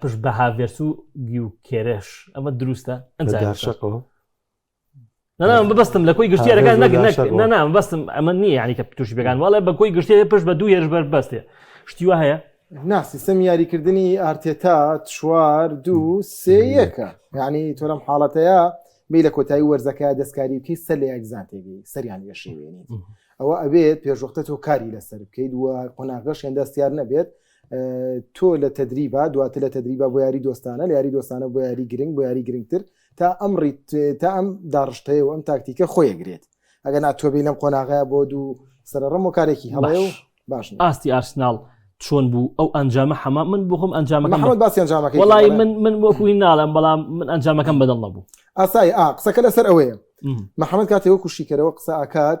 پشت بە هاڤێرس و گیوکێرێش ئەمە دروستە ئەنجاشەقەوە نام ببستم لە کۆی گشتیارەکان نام بەستم ئەمە نییە ینی کە توش بگان وڵێ بە کۆی گشتێ پشت بە دوو هێرش بەر بەستێ شتی وە هەیە ناسیستم یاریکردنی ئارتێتا چوار دوو سێ یەکە یعنی تۆرەم حاڵەتەیە بی لە کۆتایی وەرزەکە دەستکاری بکەیت سەر لە یەکزان تێگەی سەریان یەشێوێنیت ئەوە ئەبێت پێشوەختە تۆ کاری لەسەر بکەیت و قۆناغەش هێنداستیار نەبێت تۆ لە تەدریبا دواتر لە تەدریبا بۆ یاری دۆستانە لە یاری دۆستانە بۆ یاری گرنگ بۆ یاری گرنگتر تا ئەم ڕیت تا ئەم داڕشتەیە و ئەم تاکتیکە خۆیەگرێت ئەگەر ناتۆبی لەم قۆناغەیە بۆ دوو سەرڕم و کارێکی هەڵەیە و باش نییە. ئاستی ئارسناڵ چۆن بوو ئەو ئەنجامە حەما من بخۆم ئەنجامەکەم بە- محمد باسی ئەنجامەکەی وەڵی کرد، من من وەکوی ناڵێم بەڵام من ئەنجامەکەم بەدڵ نەبوو ئاسای ئا قسەکە لەسەر ئەوەیە م. محمد کاتێ وەکو شیکەرەوە قسە ئەکات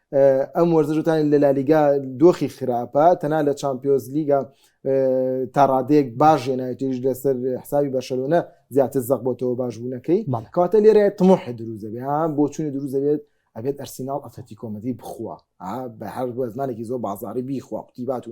ئەم وەرزش وتانی لە لالیگا دۆخی خراپە تەنا لە چمپیۆز لیگا تاڕادەیەک باش ژێنایتیش لەسەر حسابی بەشەلۆنە زیاتر زەق بۆتەوە باش بوونەکەی کاتە لێرە تمۆحی دروزەبێ بۆ چونی دروزەبێت ئەبێت ئەرسینال ئەتەتی کۆمەدی بخوا بە هەر بۆ زمانێکی زۆر بازاری بیخوا قوتیبات و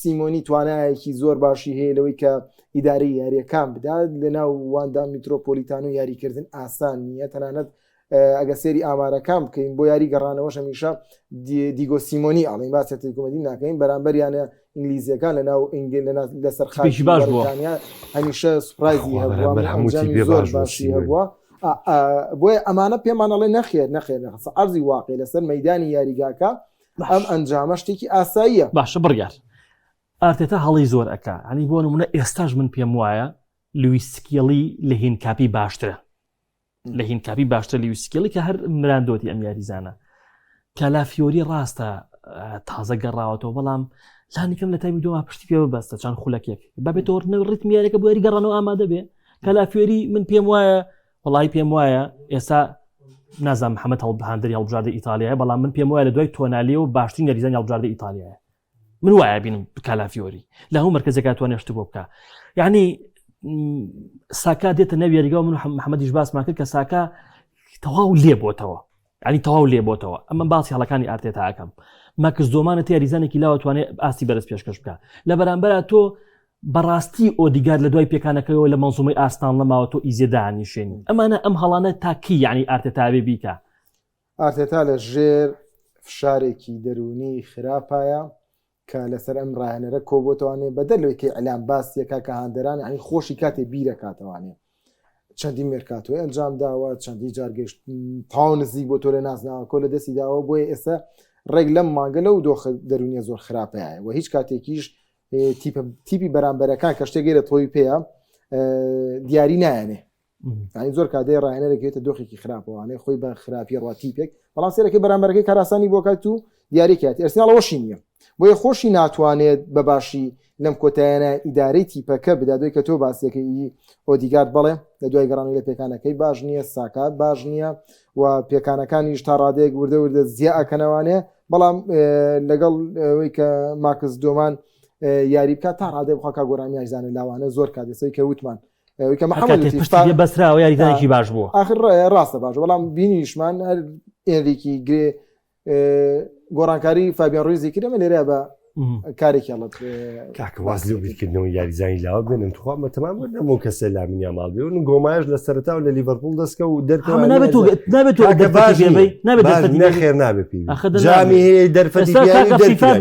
سیمۆنی توانایەکی زۆر باشی هەیە لەوەی کە ئیدارەی یاریەکان بدات لە ناو واندا میترۆپۆلیتانۆ یاریکردن ئاسان نییە تەنانەت ئەگە سێری ئامارەکان بکەین بۆ یاری گەڕانەوەش هەمیشە دیگۆ سیمۆنی ئاڵین باسی تیکومەدی ناکەین بەرامبەر یانە ئینگلیزیەکان لە ناو ئینگل لە سەرخیش باش بۆتانیا هەمیشە سوپرایزی هەبووە هەمووی باش باشی هەبووە بۆیە ئەمانە پێمانەڵێ نەخێر نەخێر نەخسە ئەرزی واقع لەسەر مەدانی یاریگاکە ئەم ئەنجامە شتێکی ئاساییە باشە بڕیار ئارتێتا هەڵی زۆر ئەک ئەنی بۆ نمونە ئێستاش من پێم وایە لویسکیڵی لە هین کاپی باشترە لە هین کاپی باشتر لویسکیڵی کە هەر مراندۆتی ئەم یاریزانە کالافیۆری ڕاستە تازە گەڕاوەتەوە بەڵام لانیکەم لە تامی دوما پشتی پێ بەستە چند خولەکێک بەبێت تۆرنە ڕیتمیارەکە بۆری گەڕانەوە ئامادە بێ کالافیۆری من پێم وایە وەڵاهی پێم وایە ئێستا نازان محەممەد هەڵبهاندر هەڵبژاردە ئیتالیایە بەڵام من پێم وایە لە دوای تۆنالی و باشترین یاریزان هەڵبژاردە ئیتالیایە من وایە بینم کالافیۆری لە هەموو مرکزەکەتوانێت شت بۆ بکە یعنی ساکا دێتە ناویێریگەەوە من محەممەدیش باسمان کرد کە ساکە تەواو لێ بۆتەوە یانی تەواو لێبۆتەوە ئەمە باسی هەڵەکانی ئارتێتا ئەکەم مەکس دۆمانە تە یاریزانێکی لاوە توانێت ئاستی بەرز پێشکەش بکە لە بەرامبەرە تۆ بەڕاستی ئۆدیگار لە دوای پێکانەکەەوە لە مەزومەی ئاستان لەماوە تۆ ئیزێدانی شوێنی ئەمانە ئەم هەڵانە تاکی یعنی ئارتێتاوێ بیکە ئارتێتا لە ژێر فشارێکی دەروونی خراپایە کە لەسەر ئەم ڕاهێنەرە کۆبۆتەوانێ بەدەر لەوەی کە ئیلام باسی یەکا کە هاندەران ئەنی خۆشی کاتێ بیرەکاتەوانێ چەندین مێرکاتۆی ئەنجام داوە چەندی جارگەشت تاو نزیک بۆ تۆ لە نازناوە کۆ لە دەستی داوە بۆیە ئێستا ڕێک لەم مانگە لەو دۆخ دەرونیە زۆر خراپەیە و هیچ کاتێکیش تیپی بەرامبەرەکان کە شتێکی لە تۆی پێەیە دیاری نایەنێ یعنی زۆر کات دەی ڕاهێنەرێک هێتە دۆخێکی خراپەوانێ خۆی بە خراپی ڕات تیپێک بەڵام سێرەکەی بەرامبەرەکەی کاراسانی بۆ کات و دیارێکیاتی ئەرسناڵەوەشی نییە بۆیە خۆشی ناتوانێت بە باشی لەم کۆتایانە ئیدارەی تیپەکە بدادوی کە تۆ باسیەکەی ئۆدیگارد بڵێ لە دوای گەڕانی لە پێکانەکەی باش نییە ساکات باش نییە و پێکانەکانیش تا ڕادێک وردە وردە زیاکەنەوانێ بەڵام لەگەڵ ئەوەی کە ماکس دۆمان یاری بکات تا ڕادێ بخوا کا گۆرانیاشزانە لاوانە زۆر کاتێسەی کە وتمان بەسراوە یاریزانێکی باش بوو آخر ڕاستە باش بەڵام بینیشمان هەر ئێریکی گرێ گۆڕانکاری فابیان ڕویزی کرێمە لێرە بە کارێکی هەڵت کاکەواز لێ بیرکردنەوە یاریزانی لاوە بێنم تخوا مە تەمام نەمە کەسە لا منیا ماڵ بێ و گۆمایش لە سەرتا و لە لیڤەرپول دەستکە و دەرکەوە نابێت نابێت نەخێر نابێت جامی هەیە دەرفەتی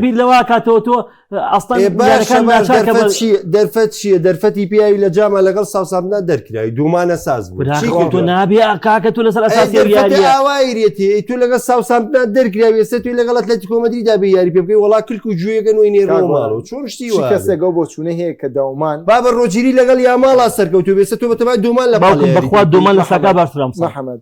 بیر لەوا کاتەوە تۆ دەرفەت چیە دەرفەتی پیاوی لە جاما لەگەڵ ساوسامدا دەرکراوی دومانە ساز نابێ کاکە تو لەسەر ئەساسیاوایرێتی تو لەگە ساوسامدا دەرکراوی ئێستا توی لەگەڵت لە تیکۆمەدی دابێ یاری پێ بکەی وڵا کلک و گوێگەن وی نێرۆماڵ و چۆن شتی کەسێکە بۆ چونە هەیە کە داومان بابە ڕۆجیری لەگەڵ یاماڵا سەرکەوتو بێسە تۆ بەتەبای دومان لە بەخوا دومان لە ساکا باشرام محەممەد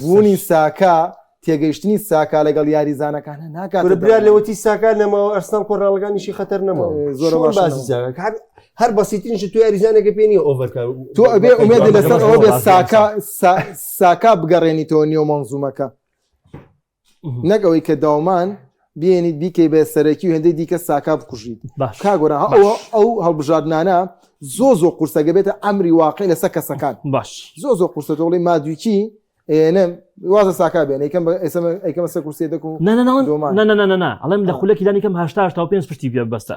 بوونی ساکا تێگەیشتنی ساکا لەگەڵ یاریزانەکان ناکات برا لەوەتی ساکا نەماوە ئەرسناڵ کۆراڵگانیشی خەتەر نەماوە زۆر باسی هەر بەسیتنیش تو یاریزانەکە پێنی ئۆڤەرکار تو ئەبێ ئومێدی لەسەر ئەوە بێ ساکا ساکا بگەڕێنیتەوە نیۆ مەنزومەکە نەک ئەوەی کە داومان بێنیت بیکەی بە سەرەکی و هێندەی دیکە ساکا بکوژیت باش کا گۆران ها باش. ئەوە ئەو هەڵبژاردنانە زۆ زۆ قورسەگە بێتە ئەمری واقعی لەسەر کەسەکان باش زۆ زۆ قورسە تۆڵی مادویچی ئێنە وازە ساکا بێن یکەم بە ئێسمە ئەیکەمە سەر کورسێ دەکو نانەناوان دومان نانەنانەنا ئەڵێم لە آه. خولەکی دانیکەم هەشتا هەشتا و پێنج پشتی پێ بەستە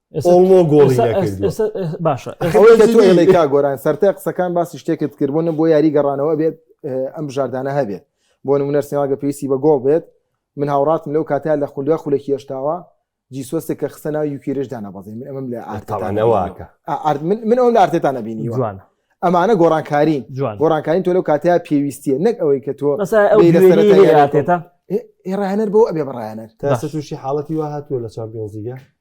ئۆڵۆ گۆڵی باشە گۆران سەرای قسەکان باسی شتێکت کرد بۆ نە بۆ یاری گەڕانەوە بێت ئەم بژاردانە هەبێت بۆ نمونەر سێواگە پێویستی بە گۆڵ بێت من هاوڕاتم لەو کاتیا لە خولیا خولێکی هێشتاوە جیسۆستێک کە خستە ناو یوکیرشدا نەبەزی من ئەمەم لە ئارتانەوەکە من ئەوم لە ئارتێتانە بینی جوان ئەمانە گۆڕانکارین جوان گۆڕانکارین تۆ لەو کاتیا پێویستیە نەک ئەوەی کە تۆ ئێرانەر بۆ ئەبێ بڕایەنەر تاسوشی حاڵەتی وا هاتووە لە چمپیۆنزیگە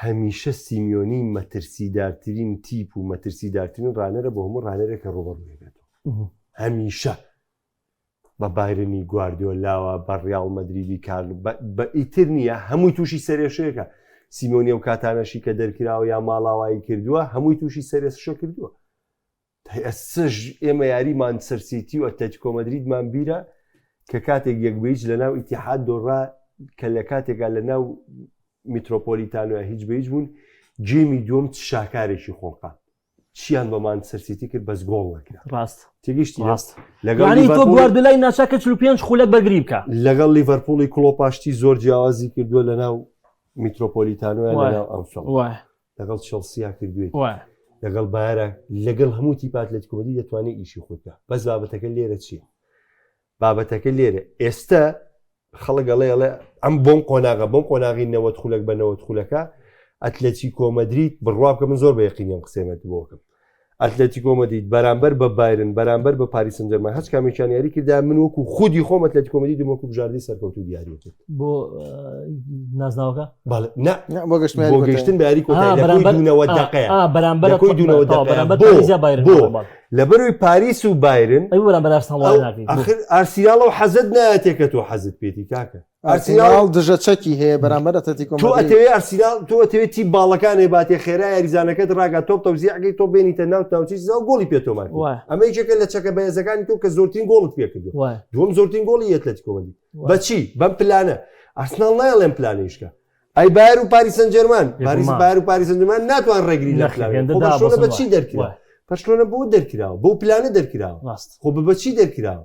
هەمیشە سیمیۆنی مەترسیدارترین تیپ و مەترسیدارترین ڕانەرە بۆ هەموو ڕانەرێک کە ڕوبەڕوێ بێتەوە هەمیشە بە بایرنی گواردیۆ لاوە بە ڕیاڵ مەدریدی کار بە ئیتر نییە هەمووی تووشی سەرێشەیەەکە سیمۆنی و کاتانەشی کە دەرکراوە یا ماڵاوایی کردووە هەمووی تووشی سەرێسشە کردووە پێسژ، ئێمە یاری مانچستەر سیتی و ئەتلەتیکۆ مەدریدمان بیرە کە کاتێک یەک بە هیچ لەناو ئیتیحاد دۆڕا کە لە کاتێکا لەناو میترۆپۆلیتانۆیا هیچ بە هیچ بوون جێمی دووەم چ شاکارێکی خۆڵقان چیان بە مانچستەر سیتی کرد بەس گۆڵ نەکرا ڕاست تێگەیشتی ڕاست لەگەڵ یعنی تۆ لیڤەرپوڵی- گواردیۆلای ناچار کرد 45 خولەک بەرگری بکە لەگەڵ لیڤەرپوڵی کڵۆپاشتی زۆر جیاوازی کردووە لەناو میترۆپۆلیتانۆیا وایە. لەناو ئەنفیڵد وایە لەگەڵ چڵسیا کردوێت لەگەڵ بارە لەگەڵ هەموو تیپات لە کومەدی دەتوانێت ئیشی خودکە بەس بابەتەکە لێرە چییە بابەتەکە لێرە ئێستا خەڵگەڵێڵێ ئەم بۆم قۆناغە بۆم قۆناغی نەوەت خولەک بە نەوەت خولەکە ئەتلەچی کۆمەدریت بڕوا بکە من زۆر بە یقینیم قسێمەت بۆکەم ئەتلەتیکۆ مەدید بەرامبەر بە بایرن بەرامبەر بە پاریسن جەرمە هەچ کامیان یاری کردا من وەکو خودی خۆم ئەتلەتیکۆ مەدید وەکو بژاردی سەرکەوت و دیاری کرد بۆ نازناوەکە بۆ گەشتن باری کۆتایەوە دقەیە بەرامبەر کۆی دونەوە دقەیە لە بەروی پاریس و بایرن ئەرسیاڵەوە حەزت نایەتێکە تۆ حەزت پێێتی کاکە ئەرسیناڵ دژە چەکی هەیە بەرامبەر ئەتلەتیکۆ مەدرید. تۆ ئەتەوێ ئەرسیناڵ تۆ ئەتەوێ تیم باڵەکانێ باتێ خێرا یاریزانەکەت ڕاگا تۆپ تەوزیعەکەی تۆ بێنیتە ناو ناوچەی سزا و گۆڵی پێ تۆمار بکەی. ئەمە یەکێکە لە چەکە بەهێزەکانی تۆ کە زۆرترین گۆڵت پێ کردووە. دووەم زۆرترین گۆڵی ئەتلەتیکۆ مەدرید. بە چی؟ بەم پلانە. ئەرسناڵ نایەڵ ئەم پلانەی شکا. ئەی بایەر و پاریس سەنجێرمان پاریس بایەر و پاریس سەنجێرمان ناتوان ڕێگری لە پلانەکە بکەن. خۆ بەرشلۆنە بە چی دەرکرا؟ بەرشلۆنە بۆ دەرکراوە؟ بەو پلانە دەرکراوە. ڕاست. خۆ بە چی دەرکراوە؟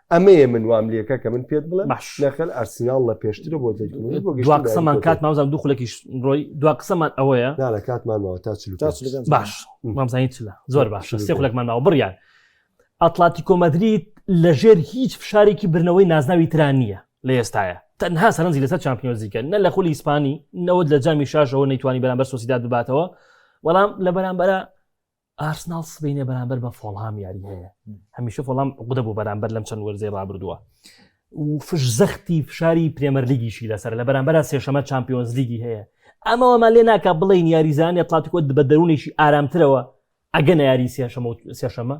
ئەمەیە من وام لەکە کە من پێت بڵێ نەخل ئەرسینال لە پێشترە بۆ دوا قسەمان کات ماوزان دوو خولێکیش ڕۆی دوا قسەمان ئەوەیە لە کاتمانەوە تا باش مامزانی چلە زۆر باش سێ خولێکمان ناوە بڕیان ئەتلاتی کۆمەدریت لە ژێر هیچ فشارێکی برنەوەی نازناوی تران نییە لە ئێستاە تەنها سەرنجی لەسەر چمپیۆزیکە نە لە خولی ئیسپانی نەوەت لە جامی شاشەوە نەیتوانی بەرامبەر سۆسیدا دباتەوە بەڵام لە بەرامبەرە ئارسناڵ سبەینێ بەرامبەر بە فۆڵهام یاری هەیە هەمیشە فۆڵام عقدە بۆ بەرامبەر لەم چەند وەرزەی ڕابردووە و فش زەختی فشاری پرێمەر لیگیشی لەسەر لە بەرامبەر سێشەمە چمپیۆنز لیگی هەیە ئەمەوەمان لێ ناکە بڵین یاریزانانی ئەتلاتیکۆ بە دەروونێکی ئارامترەوە ئەگە نەیاری سێشەمە و سێشەمە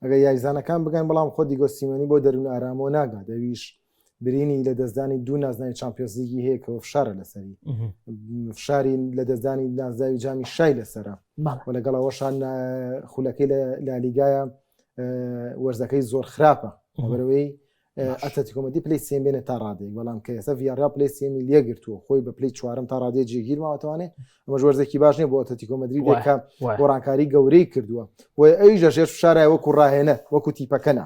ئەگە یاریزانەکان بگەن بەڵام خۆ دیگۆسیمەنی بۆ دەروون ئارامەوە ناگا دەویش برینی لە دەستدانی دوو نازناوی چمپیۆزیگی هەیە کەەوە فشارە لەسەری فشاری لە دەستدانی نازداوی جامی شای لەسرە و لەگەڵ ئەوەشان خولەکەی لە لالیگایە وەرزەکەی زۆر خراپە بەرەوەی ئەتەتیکۆمەدی پلی سێن بێنە تا ڕادێک بەڵام کە ئێستا ڤاریا پلی سێمی لە گرتووە خۆی بە پلی چوارم تا ڕادێ جێگیر ماوەتوانێ ئەمە ژۆرزێکی باش نیە بۆ ئەتەتیکۆمەدری بۆکە گۆڕانکاری گەورەی کردووە و ئەویش لە ژێر فشارای وەکو ڕاهێنە وەکو تیپەکەنا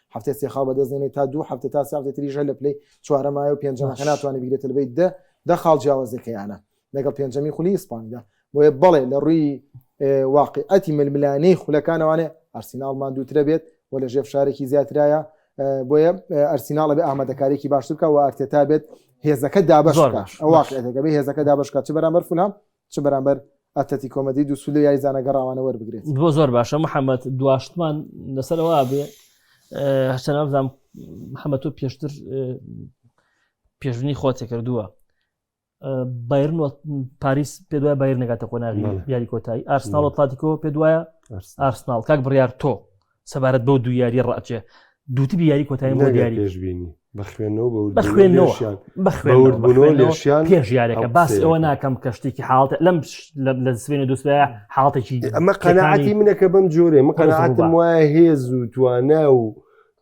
هەفتەی سێ خاڵ بەدەست دێنێت تا دوو هەفتە تا سێ هەفتەی تریش هەر لە پلەی چوارەمایە و پێنجەمە کە ناتوانێت بیگرێتە لەبەی دە دە خاڵ جیاوازەکەیانە لەگەڵ پێنجەمی خولی ئیسپانیدا بۆیە بەڵێ لە ڕووی واقعەتی ململانەی خولەکانەوانێ ئەرسیناڵ ماندووترە بێت و لە ژێر فشارێکی زیاترایە بۆیە ئەرسیناڵە بێ ئامادەکارێکی باشتر بکە و ئارتێتا بێت هێزەکە دابش واقعەکە بێ هێزەکە دابشکات چ بەرامەر فولام چ بەرامبەر ئەتلەتیکۆ مەدرید و سولە یاریزانە گەڕاوانە وەربگرێت بۆ زۆر باشە محەممەد دواشتمان لەسەرەوە بێ هەرچە نازام محەممە تۆ پێشتر پێشبنی خۆتێ کردووە بایرن پاریس پێ دوای بایر نگاتە قۆناغی یاری کۆتایی ئارسناڵ و تاتیکۆ پێ دوایە ئارسناڵ کاک بڕیار تۆ سەبارەت بەو دوو یاری ڕاجێ دووتبی یاری کۆتایی بۆ دیاری پێشبینی بەخوێنەوە بە خوێنەوە بەخوێنەوە لێشیان پێش یارەکە باس ئەوە ناکەم کە شتێکی حاڵت لەم لە سوێن و دوسرە حاڵتێکی ئەمە قەنەعاتی منەکە بەم جۆرێ من قەنەعاتم وایە هێز و توانا و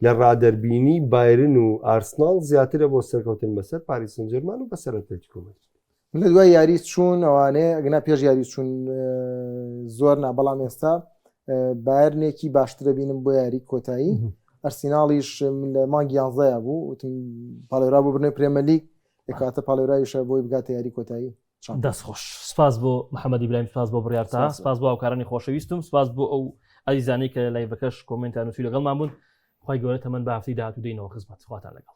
لە ڕادەربینی بایرن و ئارسناڵ زیاترە بۆ سەرکەوتن بەسەر پاریسنجەرمان و بەسەرەتەکۆمەر لە دوای یاری چوون ئەوانێ ئەگنا پێش یاری چوون زۆر نا بەڵام ئێستا بایرنێکی باشترە بینم بۆ یاری کۆتایی ئەرسیناڵیش لە مانگی یانزەیە بوو وتم پاڵێرا بۆ برنەوەی پرێمەلی کاتە پاڵێرایشە بۆی بگاتە یاری کۆتایی دەستخۆش سپاس بۆ محەممەد ئیبراهیم سپاس بۆ بڕارتا سپاس بۆ ئەوکارانی خۆشەویستم سپاس بۆ ئەو ئەزیزانی کە لای بەکەش کۆمنتان نووسی لەگەڵمان بوون خی گەورە تەمەەن بافتی داات و دینەوە خزمەت خواتان لەگەڵ